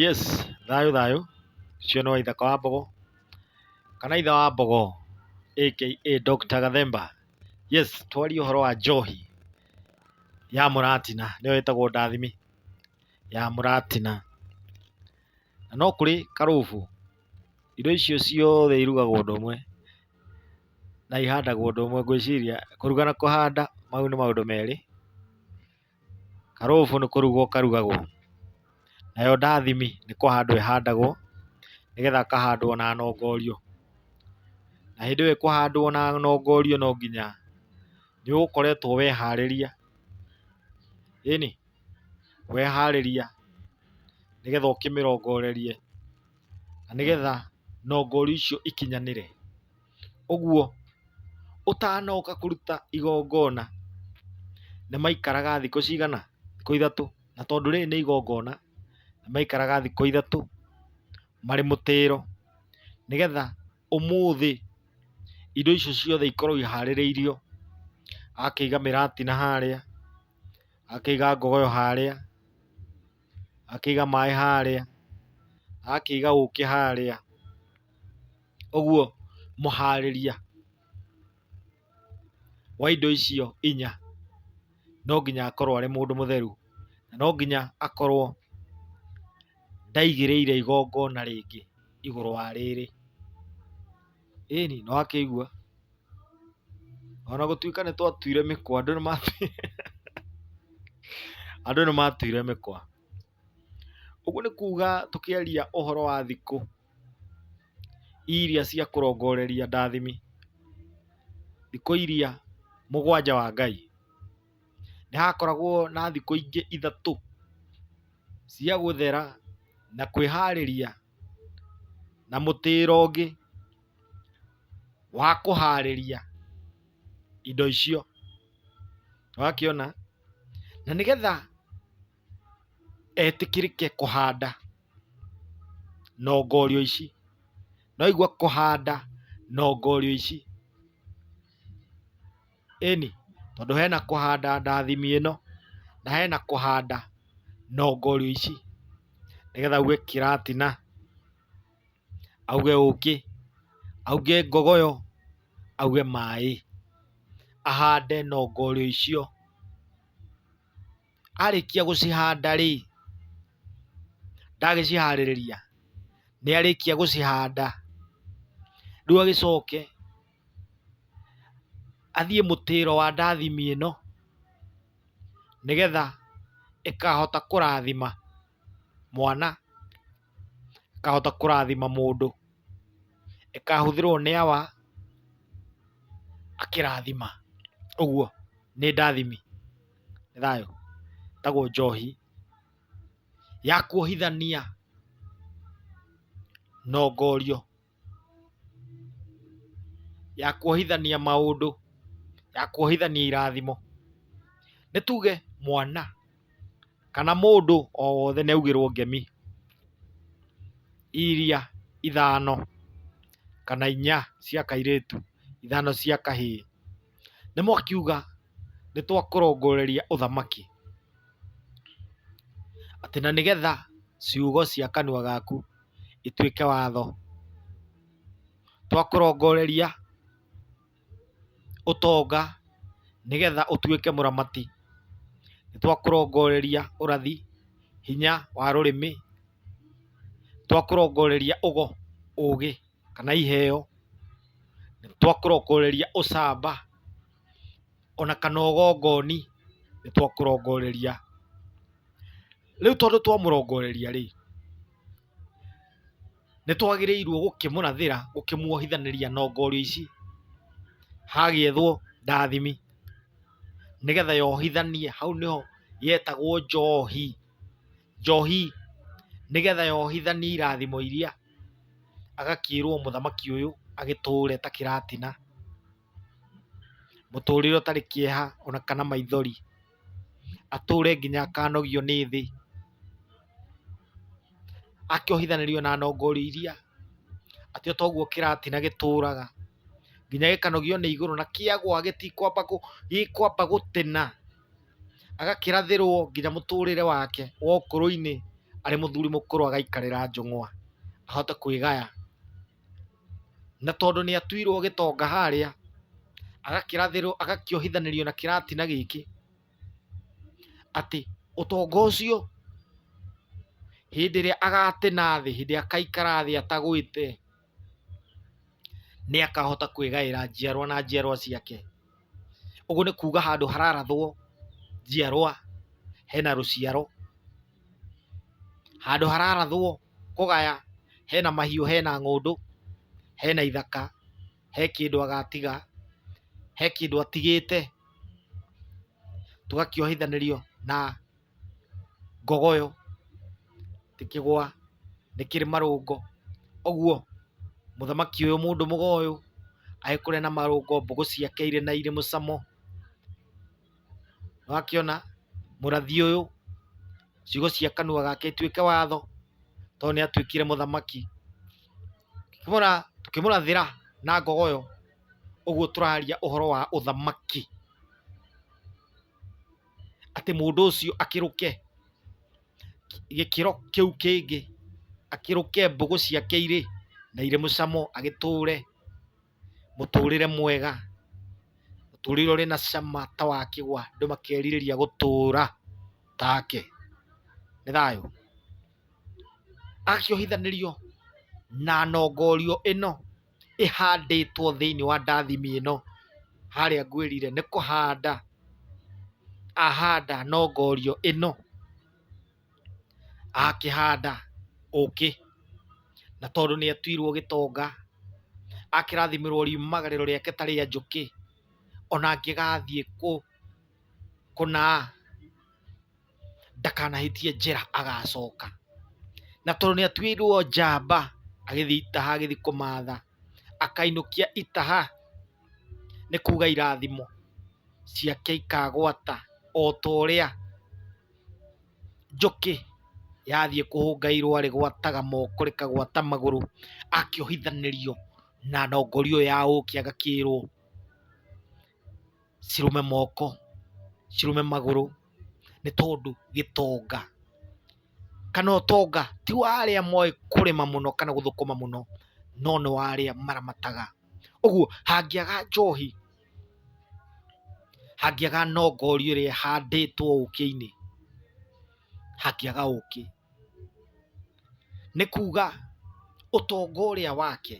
Yes, thayũ thayũ, ũcio nĩ Waithaka wa Mbogo, kana ithe wa Mbogo aka Doctor Gathemba. Yes, twarie ũhoro wa njohi ya mũratina, nĩyo ĩtagwo ndathime ya mũratina. Na no kũrĩ karũbu, indo icio ciothe irugagwo ũndũ ũmwe, na ihandagwo ũndũ ũmwe. Ngwĩciria kũruga na kũhanda, mau nĩ maũndũ merĩ. Karũgũbũ nĩ kũrugwo karugagwo, nayo ndathimi nĩ kũhandwo ĩhandagwo nĩgetha kahandwo na nongorio. Na hĩndĩ ĩyo ĩkũhandwo na nongorio no nginya nĩ ũgũkoretwo weharĩria, ĩni, weharĩria nĩgetha ũkĩmĩrongorerie na nĩgetha nongorio icio ikinyanĩre. ũguo ũtanoka kũruta igongona nĩ maikaraga thikũ cigana? Thikũ ithatũ. Na tondũ rĩrĩ nĩ igongona, nĩ maikaraga thikũ ithatũ marĩ mũtĩĩro nĩgetha ũmũthĩ indo icio ciothe ikorwo ihaarĩrĩirio. Agakĩiga mĩrati na harĩa, agakĩiga ngogoyo harĩa, agakĩiga maaĩ harĩa, agakĩiga ũũkĩ harĩa. Ũguo mũharĩria wa indo icio inya no nginya akorwo arĩ mũndũ mũtheru, na no nginya akorwo ndaigĩrĩire igongona rĩngĩ igũrũ wa rĩrĩ. Ĩni, nĩ wakĩigua? O na gũtuĩka nĩ twatuire mĩkwa, andũ nĩ matuire andũ nĩ matuire mĩkwa. Ũguo nĩ kuga tũkĩaria ũhoro wa thikũ... iria cia kũrongoreria ndathimi, thikũ iria mũgwanja wa Ngai, nĩ hakoragwo na thikũ ingĩ ithatũ cia gũthera na kwĩharĩria na mũtĩĩro ũngĩ wa kũharĩria indo icio. Nĩ wakĩona? Na nĩgetha... etĩkĩrĩke kũhanda nongorio ici. Nĩwaigua kũhanda nongorio ici? Ĩni, tondũ hena kũhanda ndathimi ĩno, na hena kũhanda nongorio ici. Nĩgetha auge kĩratina, auge ũkĩ, auge ngogoyo, auge maĩ, ahande nongorio icio. arĩkia gũcihanda rĩ, ndagĩciharĩrĩria, nĩ arĩkia gũcihanda, rĩu agĩcoke athiĩ mũtĩro wa ndathimi ĩno, nĩgetha ĩkahota kũrathima mwana, ĩkahota kũrathima mũndũ, ĩkahũthĩrwo nĩ awa akĩrathima. Ũguo nĩ ndathimi. nĩ thayũ, ĩtagwo njohi ya kuohithania nongorio, ya kuohithania maũndũ, ya kuohithania irathimo. Nĩ tuge mwana kana mũndũ o wothe nĩ augĩrwo ngemi iria ithano kana inya cia kairĩtu, ithano cia kahĩĩ. Nĩmwakiuga nĩtwakũrongoreria ũthamaki, atĩ na nĩgetha ciugo cia kanua gaku ituĩke watho. Twakũrongoreria ũtonga nĩgetha ũtuĩke mũramati. Nĩtwakũrongoreria ũrathi, hinya wa rũrĩmĩ. Twakũrongoreria ũgo, ũgĩ. kana iheo, nĩ twakũrongoreria ũcamba, ona kana ũgongoni, nĩ twakũrongoreria. Rĩu tondũ twamũrongoreria rĩ, nĩ twagĩrĩirwo gũkĩmũrathĩra, gũkĩmuohithanĩria ndongoria ici, hagĩethwo ndathimi, nĩgetha yohithanie, hau nĩho yetagwo njohi. njohi nĩgetha yohithanio irathimo iria, agakĩrwo mũthamaki ũyũ agĩtũre ta kĩratina, mũtũrĩre ũtarĩ kĩeha ona kana maithori, atũre nginya akanogio nĩ thĩ, akĩohithanĩrio na nongori iria, atĩ o ta ũguo kĩratina gĩtũraga nginya gĩkanogio nĩ igũrũ na kĩagwa gĩtikwamba gũtena. agakĩrathĩrwo nginya mũtũrĩre wake wa ũkũrũ-inĩ arĩ mũthuri mũkũrũ agaikarĩra njũng'wa ahote kwĩgaya. Na tondũ nĩ atuirwo gĩtonga harĩa, agakĩrathĩrwo agakĩohithanĩrio na kĩratina gĩkĩ atĩ ũtonga ũcio hĩndĩ ĩrĩa agatĩ nathĩ, hĩndĩ ĩrĩa akaikara thĩ atagwĩte. nĩ akahota kwĩgaĩra njiarwa na njiarwa ciake. Ũguo nĩ kuuga handũ hararathwo njiarwa hena rũciaro, handũ hararathwo kũgaya hena mahiũ, hena ng'ũndũ, hena ithaka, he kĩndũ agatiga, he kĩndũ atigĩte, tũgakĩohithanĩrio na ngogoyo, ti kĩgwa, nĩ kĩrĩ marũngo. Ũguo mũthamaki ũyũ mũndũ mũgoyũ agĩ kũrĩa na marũngo mbũgũ ciake irĩ na irĩ mũcamo. Nĩ wakĩona mũrathi ũyũ ciugo cia kanua gake ituĩke watho tondũ nĩ atuĩkire mũthamaki. Tũkĩmũrathĩra na ngogoyo ũguo tũraria ũhoro wa ũthamaki. atĩ mũndũ ũcio akĩrũke gĩkĩro kĩu kĩngĩ, akĩrũke mbũgũ ciake irĩ na irĩ mũcamo, agĩtũre mũtũrĩre mwega, mũtũrĩre ũrĩ na cama ta wa kĩgwa, andũ makerirĩria gũtũra take. Nĩ thayũ? Akĩohithanĩrio na nongorio ĩno. ĩhandĩtwo thĩiniĩ wa ndathimi ĩno, harĩa ngwĩrire nĩ kũhanda ahanda na ongorio ĩno, akĩhanda ũkĩ, na tondũ nĩ atuirwo gĩtonga, akĩrathimĩrwo riumagarĩro rĩake ta rĩa njũkĩ, ona angĩgathiĩ kũ kũna. ndakanahĩtie njĩra agacoka. Na tondũ nĩ atuĩirwo njamba, agĩthiĩ itaha agĩthiĩ kũmatha, akainũkia itaha, nĩ kuga irathimo ciake ikagwata o ta ũrĩa njũkĩ yathiĩ kũhũnga irũa rĩgwataga moko rĩkagwata magũrũ, akĩohithanĩrio na ndongoria ĩyo ya ũkĩ agakĩĩrwo. cirũme moko, cirũme magũrũ nĩ tondũ gĩtonga kana ũtonga ti wa arĩa moĩ kũrĩma mũno kana gũthũkũma mũno no nĩ wa arĩa maramataga. Ũguo hangĩaga njohi, hangĩaga nongoria ĩrĩa ĩhandĩtwo ũkĩ-inĩ, hangĩaga ũkĩ. nĩ kuuga ũtonga ũrĩa wake,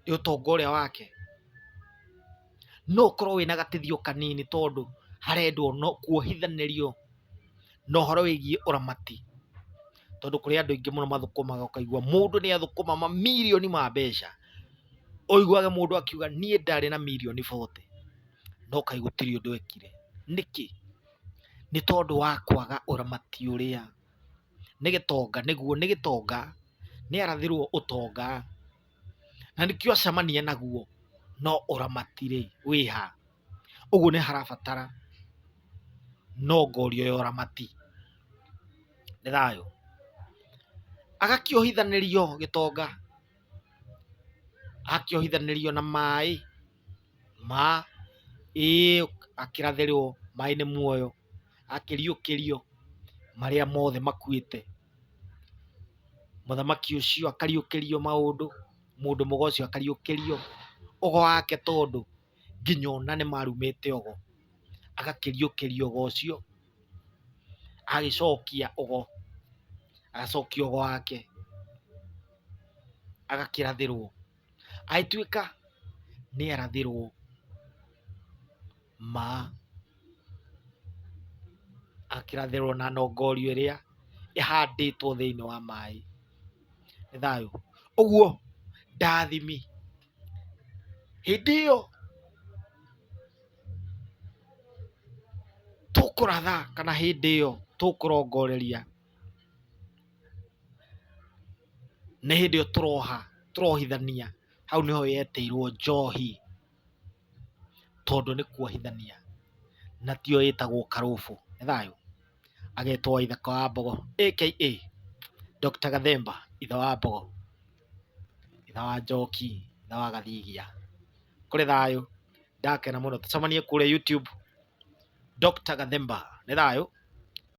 nĩ ũtonga ũrĩa wake, no ũkorwo wĩna gateithio kanini tondũ harendwo no kuohithanĩrio na ũhoro wĩgiĩ ũramati, tondũ kũrĩ andũ aingĩ mũno mathũkũmaga ũkaigua mũndũ nĩ athũkũma mamirioni ma mbeca, ũiguage mũndũ akiuga niĩ ndarĩ na mirioni bote, no kaĩ gũtirĩ ũndũ ekire, nĩkĩ? nĩ tondũ wa kwaga ũramati ũrĩa nĩ gĩtonga nĩguo nĩ gĩtonga, nĩ arathĩrwo ũtonga na nĩkĩo acemania naguo no ũramati rĩ wĩ ha? Ũguo nĩ harabatara nongoria ya ũramati. Nĩ thayũ? Agakĩohithanĩrio gĩtonga, agakĩohithanĩrio na maĩ. ma ĩĩ akĩrathĩrwo maĩ nĩ muoyo, akĩriũkĩrio marĩa mothe makuĩte. Mũthamaki ũcio akariũkĩrio maũndũ, mũndũ mũgo ũcio akariũkĩrio ũgo wake tondũ nginya ona nĩ marumĩte ũgo, agakĩriũkĩrio ũgo ũcio, agagĩcokia ũgo, agacokia ũgo wake, agakĩrathĩrwo. Agĩtuĩka nĩ arathĩrwo ma, akĩrathĩrwo na nongorio ĩrĩa ĩhandĩtwo thĩinĩ wa maĩ. Nĩ thayũ? Ũguo ndaathimi. Hĩndĩ ĩyo tũkũratha kana hĩndĩ ĩyo tũkũrongoreria. Nĩ hĩndĩ ĩyo tũroha, tũrohithania, hau nĩho yetĩirwo njohi, tondũ nĩ kuohithania, na tiyo ĩtagwo karũbũ. Nĩ thayũ? Agetwo Waithaka wa Wambogo, aka Doctor Gathemba, ithe wa mbogo, ithe wa njoki, ithe wa gathigia. Kũrĩ thayũ? Ndakena mũno. Tũcemanie kũrĩa YouTube, Doctor Gathemba. Nĩ thayũ?